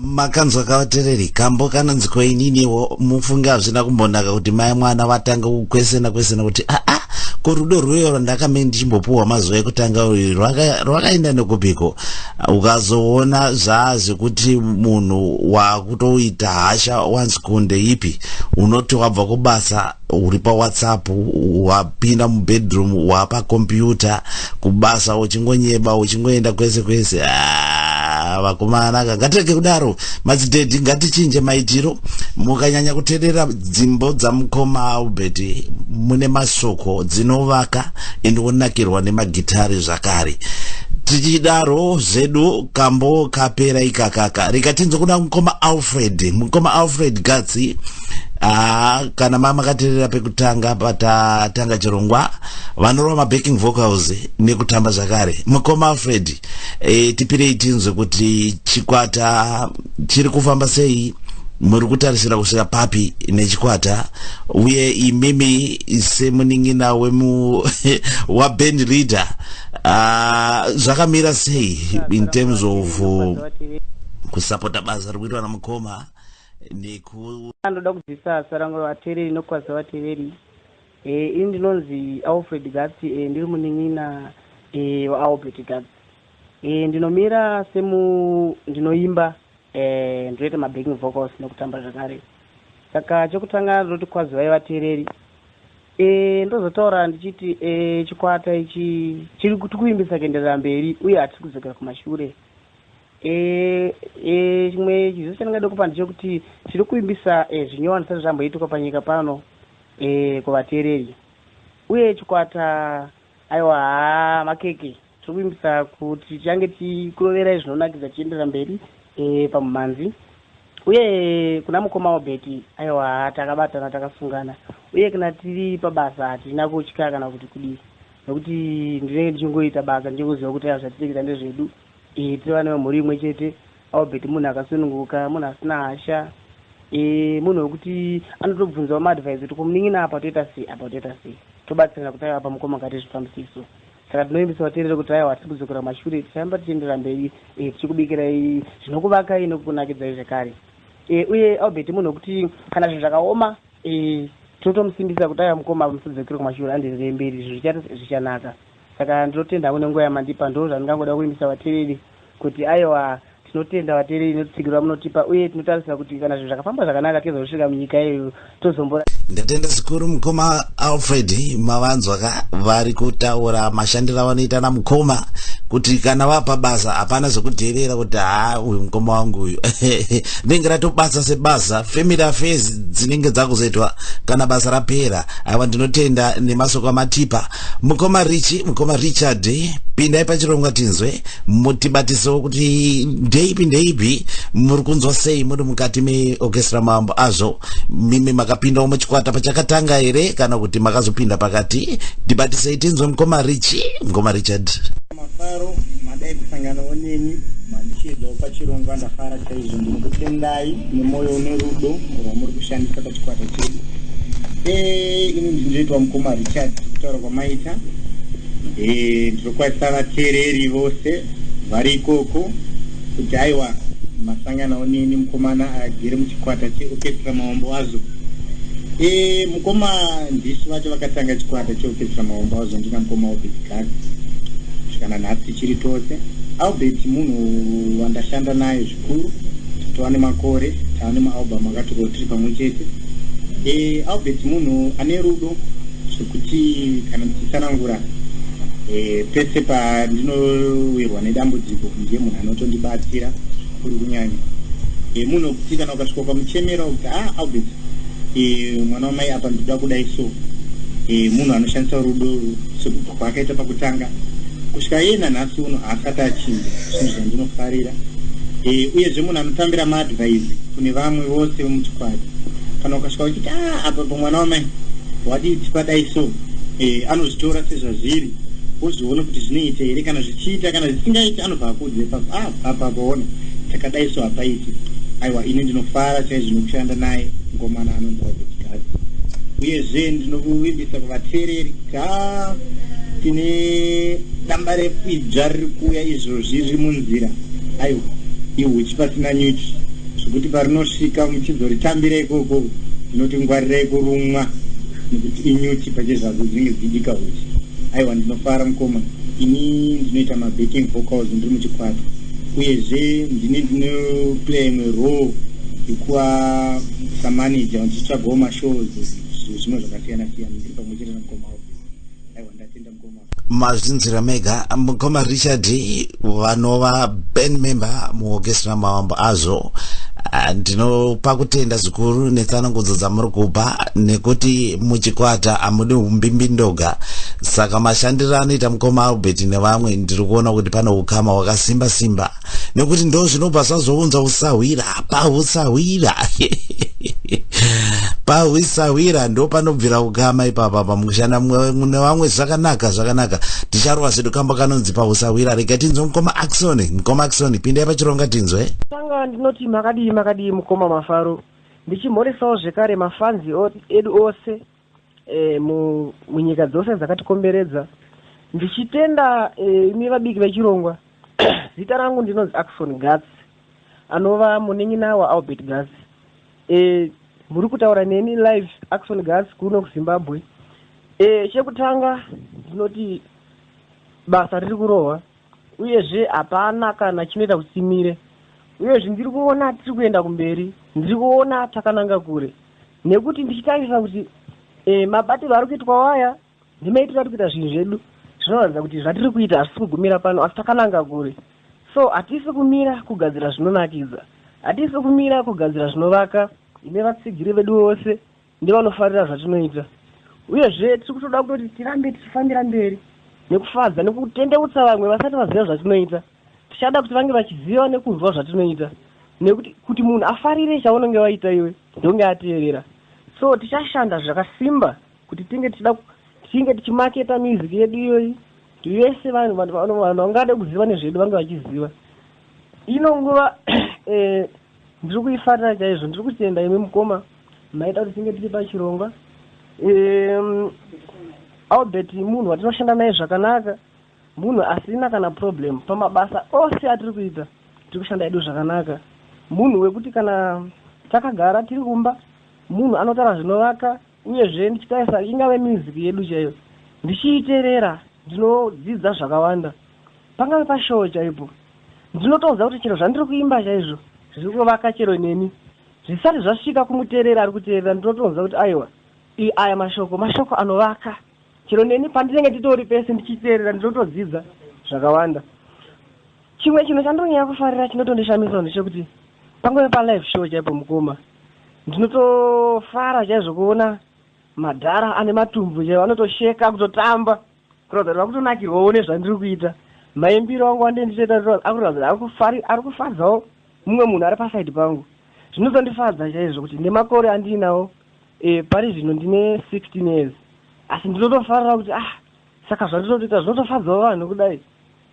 makanzwa kavatereri kambo kanonzi koininiwo mufunge hazvina kumbonaka kuti mai mwana vatanga kukwesena kwesena kuti aa ah, ah, ko rudo rwuyo rwandakame ndichimbopuhwa mazuva ekutanga uyu rwakaenda nekupiko ukazoona zvaa zvekuti munhu wakutoita hasha once kunde ipi unoti wabva kubasa uri pawhatsapp wapinda mubedroom wapakompyuta kubasa uchingonyeba uchingoenda kwese kwese ah, vakomana ka ngatirege kudaro madzidhedhi ngatichinje maitiro mukanyanya kuterera dzimbo dzamukoma albert mune masoko dzinovaka indionakirwa nemagitari zvakare tichidaro zvedu kambo kapera ikakaka rikatinzo kuna mukoma alfred mukoma alfred gatsi Ah, kana mama katerera pekutanga patatanga chirongwa vanorova mabacking vocals nekutamba zvakare mukoma alfred e, tipirei tinzwe kuti chikwata chiri kufamba sei muri kutarisira kusvika papi nechikwata uye imimi semunin'ina wemu waband leader ah, zvakamira sei in terms of kusapota basa riri kuitwa namukoma neku Ndoda kubvisa zita rangu revatereri nokukwadza vatereri. Eh, ini ndinonzi Alfred Gatsi, eh, ndiri munin'ina eh, waAlbert Gatsi. Eh, ndinomira semu ndinoimba eh, ndinoita mabacking vocals nokutamba zvakare. Saka chokutanga ndinoti kwadzwai vatereri. Eh, ndozotaura ndichiti eh, chikwata ichi chiri kuti kuimbisa kuenderera mberi uye hatisi kudzokera kumashure. Chimwe chiziviso chandingada kupa ndechekuti tiri kuvimbisa zvinyowani zvisati zvamboitika panyika pano kuvateereri. Uye chikwata, aiwa, haa, makeke, tiri kuvimbisa kuti tichange tichikuroverai zvinonakidza tichienderera mberi pamumhanzi. Uye kuna mukoma Obert, aiwa, haa, takabatana, takasungana. Uye kana tiri pabasa hatina kutya kana kuti kudii. Nokuti ndinenge ndichingoita basa ndichingoziva kuti aya zvatinoita ndezvedu. Ehe tiri vana vemhuri imwe chete. Albert munhu akasununguka, munhu asina hasha. Ehe munhu wekuti anotobvunzawo maadvice kuti ko munin'ina apa toita sei, apa toita sei. Tobatsirana kuti aiwa apa mukoma ngatiite zvifambise so. Saka tinovimbisa vateereri kuti aiwa hatisi kudzokera kumashure ticharamba tichienderera mberi ehe tichikubikirai zvinokuvakai nekukunakidzai zvekare. Ehe uye Albert munhu wekuti kana zvinhu zvakaoma Eeh tinotomusimbisa kuti aiwa mukoma apa musadzokere kumashure andienderere mberi izvi zvichati zvichanaka saka ndinotenda hangu nenguva yamandipa ndozvandingangoda kuvimbisa vatereri kuti aiwa tinotenda vatereri netutsigiro vamunotipa uye tinotarisira kuti kana zvinhu zvakafamba zvakanaka tizosvika munyika yedu tozombo Ndatenda zvikuru mukoma Alfred mavanzwa ka vari kutaura mashandiro avanoita na mukoma kuti kana vapa basa hapana zvekudherera kuti haa uyu mukoma wangu uyu rinenge ratobasa sebasa family affairs dzinenge dzakuzoitwa kana basa rapera ava ndinotenda nemasoko amatipa mukoma richi mukoma richard pindai pachirongwa tinzwe mutibatisewo kuti ndeipi ndeipi muri kunzwa sei muri mukati meorchestra mambo azvo mimi makapindawo muchikwata pachakatanga here kana kuti makazopinda pakati tibatisei tinzwe mukoma richi mukoma richard Mafaro madai kusanganawo neni mandichiedzawo pachirongwa ndafara chaizvo ndinokutendai nemwoyo une rudo rwamuri kushandisa pachikwata chedu eh, ini ndinoitwa mukoma richard kutaura kwamaita eh, ndinokwazisa vateereri vose vari ikoko kuti aiwa masanganawo neni mukomana agere muchikwata cheokestra maombo azo Eh, mukoma ndisu vacho vakatanga chikwata cheorchestra maomba wazondina mukoma albert gag zvikana nhasi tichiri tose albert munhu wandashanda naye zvikuru tava nemakore tava nemaalbum akatoko tiri pamwe chete e, albert munhu ane rudo zvekuti kana ndichitsanangura e, pese pandinowirwa nedambudziko ndiye munhu anotondibatsira kuri kunyanya e, munhu wekuti kana ukasvika ukamuchemera kuti ha ah, albert e, mwana wamai apa ndikuda kudai so e, munhu anoshandisa rudo sekubva kwaakaita pakutanga kusvika iye nanhasi uno haasati achinja zvinhu zvandinofarira e, uyezve munhu anotambira maadvise kune vamwe vose vemuchikwadi kana ukasvika uchiti a ah, apa pamwana wamai wadii tipadai so e, anozvitora sezvazviri wozviona kuti zvinoita here kana zvichiita kana zvisingaiti anobva akuudza ipapo ah apa paona takadai so hapaiti aiwa ini ndinofara chaizvo nokushanda naye mukomana anonzi albert gazi uyezve ndinokuvimbisa kuvateereri ka ah, tine damba rekwibva riri kuuya izvozvi riri munzira aiwa ihuchi pasina nyuchi zvekuti parinosvika muchizoritambira ikoko ndinoti ngwarirai kurumwa nekuti inyuchi pachezvazo dzinenge dzichidika huchi Aiwa ndinofara mukoma ini ndinoita mabacking vocals ndiri muchikwata uyezve ndine ndinoplaya imwe role yekuva samanager ndichitsvagawo mashows zvimwe zvakasiyana siyana ndiri pamwe chete namukoma aiwa ndatenda mukoma mazvinzwira mega mukoma richard vanova band member muorchestra mavambo azvo Ah, ndinopa kutenda zvikuru netsanangudzo dzamuri kupa nekuti muchikwata hamudi umbimbindoga saka mashandiro anoita mukoma albert nevamwe ndiri kuona kuti pane ukama hwakasimba simba nekuti ndo zvinobva zvazounza usahwira hapa usahwira pahwisahwira ndo panobvira ukama ipapa pamukushanda mune vamwe zvakanaka zvakanaka ticharova zvedu kamba kanonzi pahwisahwira rega tinzwe mukoma axoni mukoma axoni pindai pachironga tinzwe tanga ndinoti makadii makadii mukoma mafaro ndichimhoresawo zvekare mafanzi edu ose munyika dzose dzakatikomberedza ndichitenda imi vabiki vechirongwa zita rangu ndinonzi axon gats anova munin'ina waalbert gats muri kutaura neni live axon gats kuno kuzimbabwe chekutanga ndinoti basa riri kurohwa uyezve hapana kana chinoita kuti timire uyezve ndiri kuona tiri kuenda kumberi ndiri kuona takananga kure nekuti ndichitarisa kuti e, mabatirwo ari kuitwa waya ndimaitiro ari kuita zvinhu zvedu zvinoratidza kuti zvatiri kuita hazvisi kugumira pano asi takananga kure so hatisi kumira kugadzira zvinonakidza hatisi kumira kugadzira zvinovaka ine vatsigiri vedu vose Ndevanofarira zvatinoita uyezve tiri kutoda kutoti tirambe tichifambira mberi nekufadza nekutendeutsa vamwe vasati vaziva zvatinoita. Tichada kuti vange vachiziva nekunzwa zvatinoita nekuti kuti munhu afarire chaunenge waita iwe ndonge ateerera so tichashanda zvakasimba kuti tinge tichida tinge tichimaketa music yedu iyoyi kuti vese vanhu vanhu vangade kuziva nezvedu vange vachiziva ino nguva eh, Ndiri kuifarira chaizvo. Ndiri kutenda imi mukoma maita kuti tinge tiri pachirongwa. Um, Albert munhu watinoshanda naye zvakanaka, munhu asina kana problem pamabasa ose atiri kuita, tiri kushanda hedu zvakanaka. Munhu wekuti kana takagara tiri kumba, munhu anotaura zvinovaka, Uyezve, ndichitarisa ingave music yedu chaiyo ndichiiterera ndinodzidza zvakawanda. Pangave pashoo chaipo ndinotonzwa kuti chero zvandiri kuimba chaizvo zviri kuvaka chero neni. Zvisati zvasvika kumuteereri ari kuteerera ndinotonzwa kuti aiwa ii aya mashoko mashoko anovaka. Chero neni pandinenge nditori pese ndichiteerera ndinotodzidza zvakawanda. Chimwe chinhu chandinonyanya kufarira chinotondishamisawo ndechekuti pangave palive show chaipo mukoma Ndinotofara chaizvo kuona madhara ane matumbu chaiwo anotosheka kutotamba kuratidza kuti vakutonakirwawo nezvandiri kuita maimbiro angu andee ndichiita akuratidza kuti ari kufadzawo mumwe munhu ari pasaidi pangu zvinotondifadza chaizvo kuti nemakore andiinawo e, pari zvino ndine 16 years asi ndinotofarira kuti ah saka zvandinotoita zvinotofadzawo vanhu kudai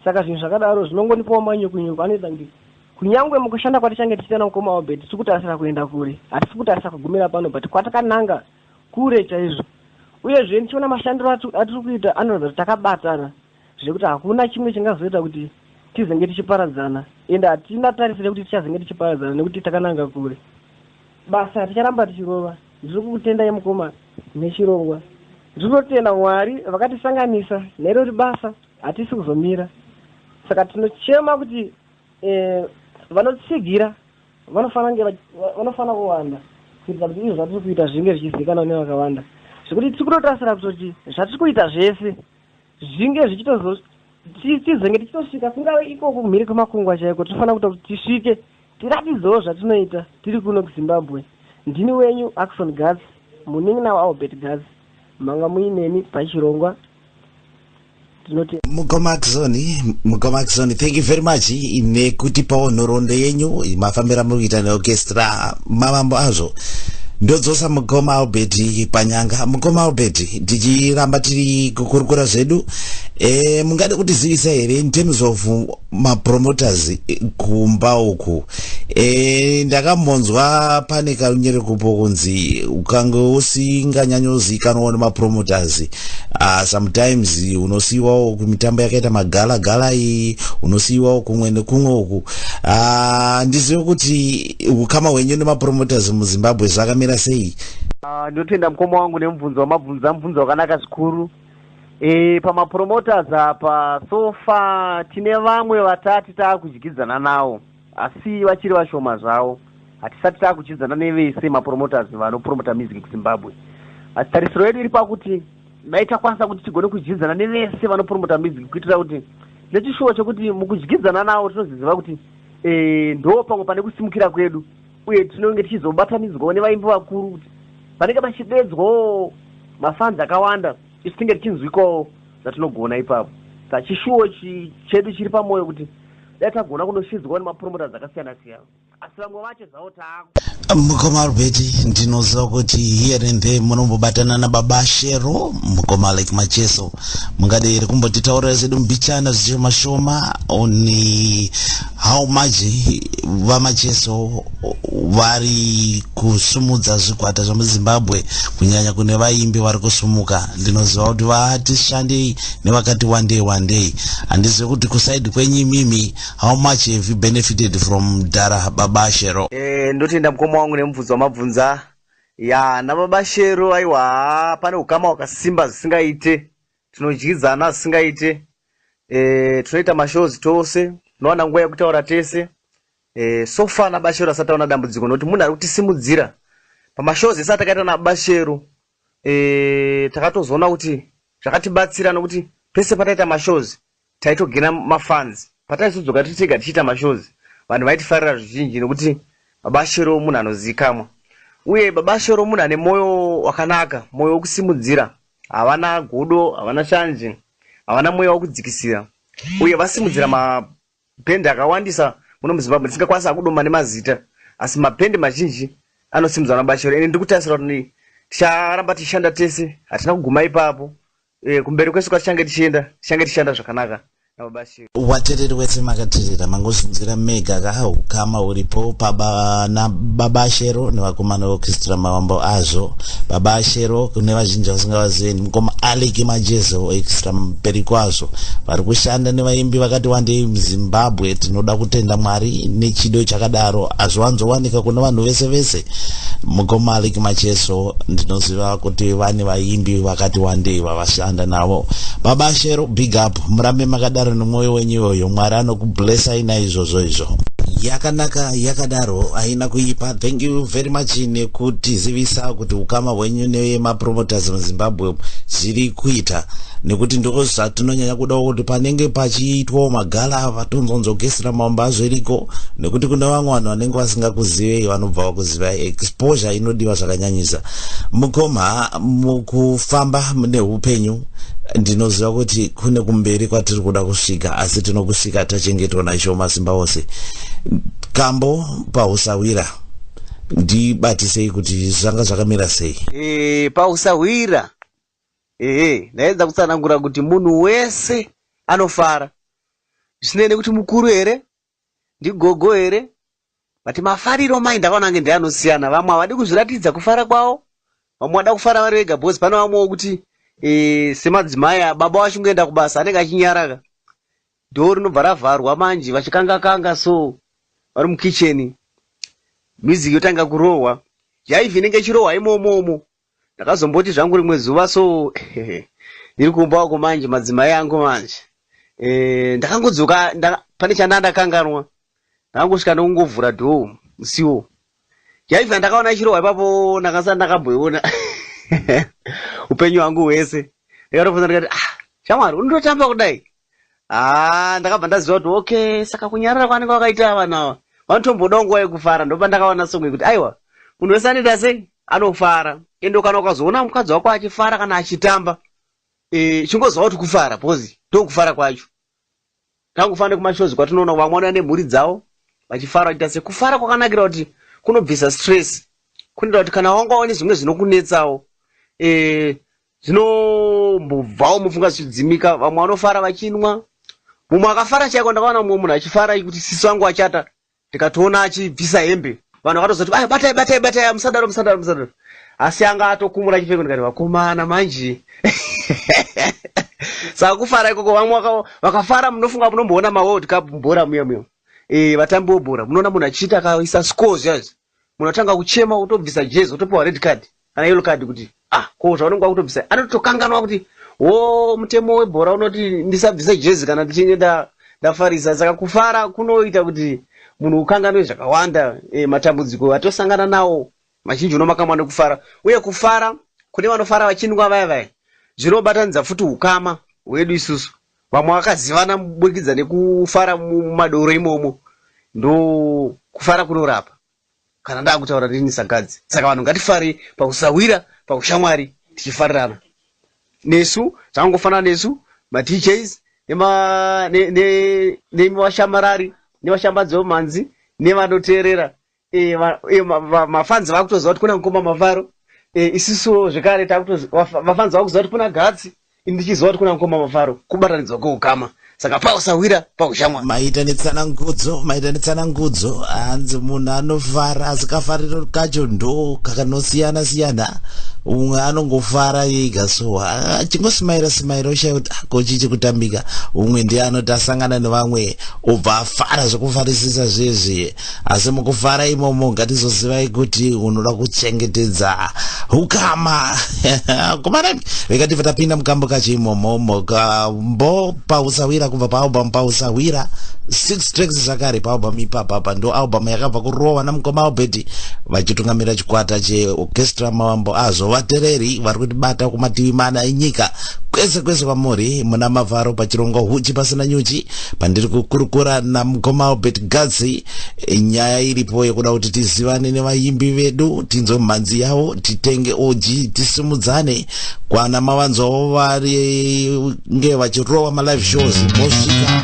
Saka zvinhu zvakadaro zvinongonipawo manyuku-nyuku anoita kuti kunyangwe mukushanda kwatichange tichiita namukoma Albert tiri kutarisira kuenda kure. Hatisi kutarisira kugumira pano but kwatakananga kure chaizvo. Uyezve ndichiona mashandiro atiri kuita anoratidza kuti takabatana zvekuti hakuna chimwe chingazoita kuti tizenge tichiparadzana ende hatingatarisire kuti tichazenge tichiparadzana nekuti takananga kure. Basa ticharamba tichirova. Ndiri kukutendai mukoma nechirongwa. Ndiri kutotenda Mwari vakatisanganisa nerori basa. Hatisi kuzomira saka tinochema kuti vanotsigira vanofanira kuwanda kuitira kuti izvo zvatiri kuita zvinge zvichizivikanwa nevakawanda zvekuti tiri kutotarisira kutoti zvatiri kuita zvese zvinge zvichitozo tizenge tichitosvika kungave ikoko kumhiri kwemakungwa chaiko tinofanira kuita kuti tisvike tiratidzewo zvatinoita tiri kuno kuzimbabwe ndini wenyu axon gatsi munin'ina waalbert gatsi manga muineni pachirongwa mugomaxoni mugomaxoni thank you very much nekutipawo nhoroondo yenyu mafambira muri kuita neorchestra mavambo azvo ndodzosa mukoma albert panyanga mukoma albert tichiramba tiri kukurukura zvedu e, mungade kutizivisa here in terms of mapromoters eh, kumba uku e, ndakambonzwa pane karunyerekupo kunzi ukange usinganyanyozikanwa nemapromoters uh, sometimes unosiiwawo kumitambo yakaita magala gala iyi unosiiwawo kumwe nekumwe uku ah, handizive uh, kuti ukama hwenyu nemapromoters muzimbabwe zvakamira sei ah, ndinotenda uh, mukoma wangu nemubvunzo wamabvunza mubvunzo wakanaka zvikuru E, pamapromoters apa so far tine vamwe vatati taakudyidzana nawo asi vachiri vashoma zvawo hatisati taakudyidzana nevese mapromoters vanopromota music kuzimbabwe asi tarisiro yedu iri pakuti dai takwanisa kuti tigone kudyidzana nevese vanopromota music kuitira kuti nechishuwo chekuti mukudyidzana nawo tinoziziva kuti e, ndo pamwe pane kusimukira kwedu uye tinonge tichizobatanidzwawo nevaimbi vakuru kuti panenge pachideedzwawo mafans akawanda isu tinge tichinzwikawo zvatinogona ipapo saka chishuwo chedu chiri pamwoyo kuti dai tagona kunoshidzwawo nemapromoters akasiyana siyana asi vamwe vacho zvavo taaku Mukoma Albert ndinoziva kuti here and there munombobatana nababa Shero mukoma like Macheso mungade here kumbotitaurira zvedu mbichana zvishoma shoma on How much vamacheso vari kusumudza zvikwata zvemuzimbabwe kunyanya kune vaimbi vari kusumuka ndinoziva kuti vati shandei nevakati wandei wandei handizive kuti kusaidi kwenyu imimi how much have you benefited from dara baba shero e, ndotenda mukoma wangu nemubvunzo wamabvunza ya nababa shero aiwa pane ukama wakasimba zvisingaite Tinodyidzana zvisingaite eh, tinoita mashows tose, tinowana nguva yekutaura tese eh, so far naBashero asati aona dambudziko nokuti munhu ari kutisimudzira pamashows ese atakaita naBashero eh, takatozoona kuti zvakatibatsira nokuti pese pataita mashows taitogainer mafans pataizodzoka tiri tega tichiita mashows vanhu vaitifarira zvizhinji nekuti baba shero munhu anozivikamwa uye baba shero munhu ane moyo wakanaka moyo wekusimudzira havana godo havana shanje havana mweya wekudzikisira uye vasimudzira mabhendi akawandisa muno muzimbabwe tisingakwanisa kudoma nemazita asi mabhendi mazhinji anosimudzwa nababa shero ende ndiri kutarisira kuti ticharamba tichishanda tese hatina kuguma ipapo Eh, kumberi kwesu kwatichange tichienda tichange tichishanda zvakanaka nababa Shem. Watereri wese makaterera mangozunzira mega ka hukama huripo paba na baba Shero nevakomana vokistra mavambo azvo baba Shero kune vazhinji vasingavazivi mukoma Alec Majezo extra mberi kwazvo vari kushanda nevaimbi vakati wandei muZimbabwe tinoda kutenda Mwari nechido chakadaro hazviwanzowanika kuna vanhu vese vese mukoma Alec Majezo ndinoziva kuti vane vaimbi vakati wandei vavashanda navo baba shero big up murambe makadaro nemwoyo wenyu iyoyo mwari anokublessai naizvozvo izvo yakanaka yakadaro haina kuipa thank you very much nekutizivisa kuti ukama hwenyu nemapromoters muzimbabwe zviri kuita nekuti ndiko zvatinonyanya kudawo kuti panenge pachiitwawo magala ava tonzonzogesi ramambo azviriko nekuti kune vamwe vanhu vanenge vasingakuzive vanobva vakuziva zivai exposure inodiwa zvakanyanyisa mukoma mukufamba mune upenyu ndinoziva kuti kune kumberi kwatiri kuda kusvika asi tinokusvika tachengetwa naisho masimba ose kambo pausawira ndibatisei kuti zvanga zvakamira sei e, pausahwira ehe ndaedza kutsanangura kuti munhu wese anofara zvisinei nekuti mukuru here Ndigogo here? But mafariro amai ndakaona ange ndeanosiyana. Vamwe havadi kuzviratidza kufara kwavo. Vamwe vada kufara vari vega because pane vamwe vokuti eh, semadzimai ah, baba vachingoenda kubasa anenge achinyaraka. Door rinobva ravharwa manje vachikanga kanga so vari mukitchen. Music yotanga kurohwa. Jaivhi inenge ichirohwa imomo umo. Ndakazomboti zvangu rimwe zuva so ndiri kumba uko manje madzimai angu manje eh, ndakangodzoka pane chandanga ndakanganwa ndakangosvika ndokungovhura dhoo musiwo yaiva ndakaona chirohwa ipapo ndakasati ndakamboiona upenyu hwangu hwese ndikatofunza ndikati ah shamwari unototamba kudai haa ndakabva ndaziva kuti okay saka kunyarara kwaanenge wakaita ava vanhu ava vanotombodawo nguva yekufara ndopandakaona song yekuti aiwa munhu wese anoita sei anofara ende kana ukazoona mukadzi wako achifara kana achitamba e, chingoziva kuti kufara bcause ndokufara kwacho tangofana nekumashows kwatinoona vamwe vanouya nemhuri dzavo vachifara vachiita sei kufara kwakanakira kuti kunobvisa stress kunoita kuti kana wanga waone zvimwe zvinokunetsawo e, Zvinombobvawo mufunga zvichidzimika vamwe vanofara vachinwa mumwe akafara chaiko ndakaona mumwe munhu achifara kuti sisi vangu achata ndikatoona achibvisa hembe vanhu vakatozoti aya batai batai batai musadaro musadaro musadaro asi anga atokumura chipfeko ndikati vakomana manje saka kufara ikoko vamwe vakafara munofunga munomboona maworld cup mubhora muya muya e, vatambi webhora munoona munhu achiita akaisa scores yazvo munhu atanga kuchema wotobvisa jezi wotopiwa red card kana yellow card kuti ah ko zvaunenge wakutobvisa anotokanganwa kuti wo mutemo webhora unoti ndisabvise jezi kana ndichinge ndafarisa saka kufara kunoita kuti munhu ukanganwe zvakawanda e, matambudziko atosangana nawo mazhinji unomakamwa nekufara uye kufara kune vanofara vachinwa vaya vaya zvinobatanidza futi ukama hwedu isusu Vamwe vakazivana muburikidza nekufara mumadoro imomo ndokufara kunorapa kana ndakutaura rini sagadzi saka vanhu ngatifare pakusahwira paushamwari tichifarirana nesu zvangofanana nesu madjs nemi vashamarari nevashambadzi vemhanzi nevanoteerera Eh, va- eh, ma- va- mafanzi vakutoziva kuti kuna mukoma mafaro Eh, isusuwo zvekare takutozi- vafa- vafanzi vakuziva kuti kuna gatsi ini ndichiziva kuti kuna mukoma mafaro kubatanidzwa kweukama saka pausahwira paushamwari maita netsanangudzo maita netsanangudzo hanzi munhu anofara asi kafariro kacho ndo kakanosiyana siyana umwe anongofara yega so ah, achingosimaira simaira ushaya kuti ah, ko chii chikutambika umwe ndiye anoti asangana nevamwe obva afara zvekufarisisa zvezvi asi mukufara imomo ngatizozivai kuti unoda kuchengetedza ukama kumana vekati vatapinda mukambo kacho imomo mukambo pausawira kubva paalbum pausawira six tracks zvakare paalbum ipapapa ndo album yakabva kurohwa namukoma albert vachitungamira chikwata cheorchestra mavambo azvo vatereri vari kutibata kumativi mana enyika kwese kwese kwamuri muna mavharo pachirongo huchi pasina nyuchi pandiri kukurukura namukoma albert gazi nyaya iripo yekuda kuti tizivane nevayimbi vedu tinzwe mhanzi yavo titenge oji tisimudzane kwana mavanzwawo varinge vachirova malive shows mosvika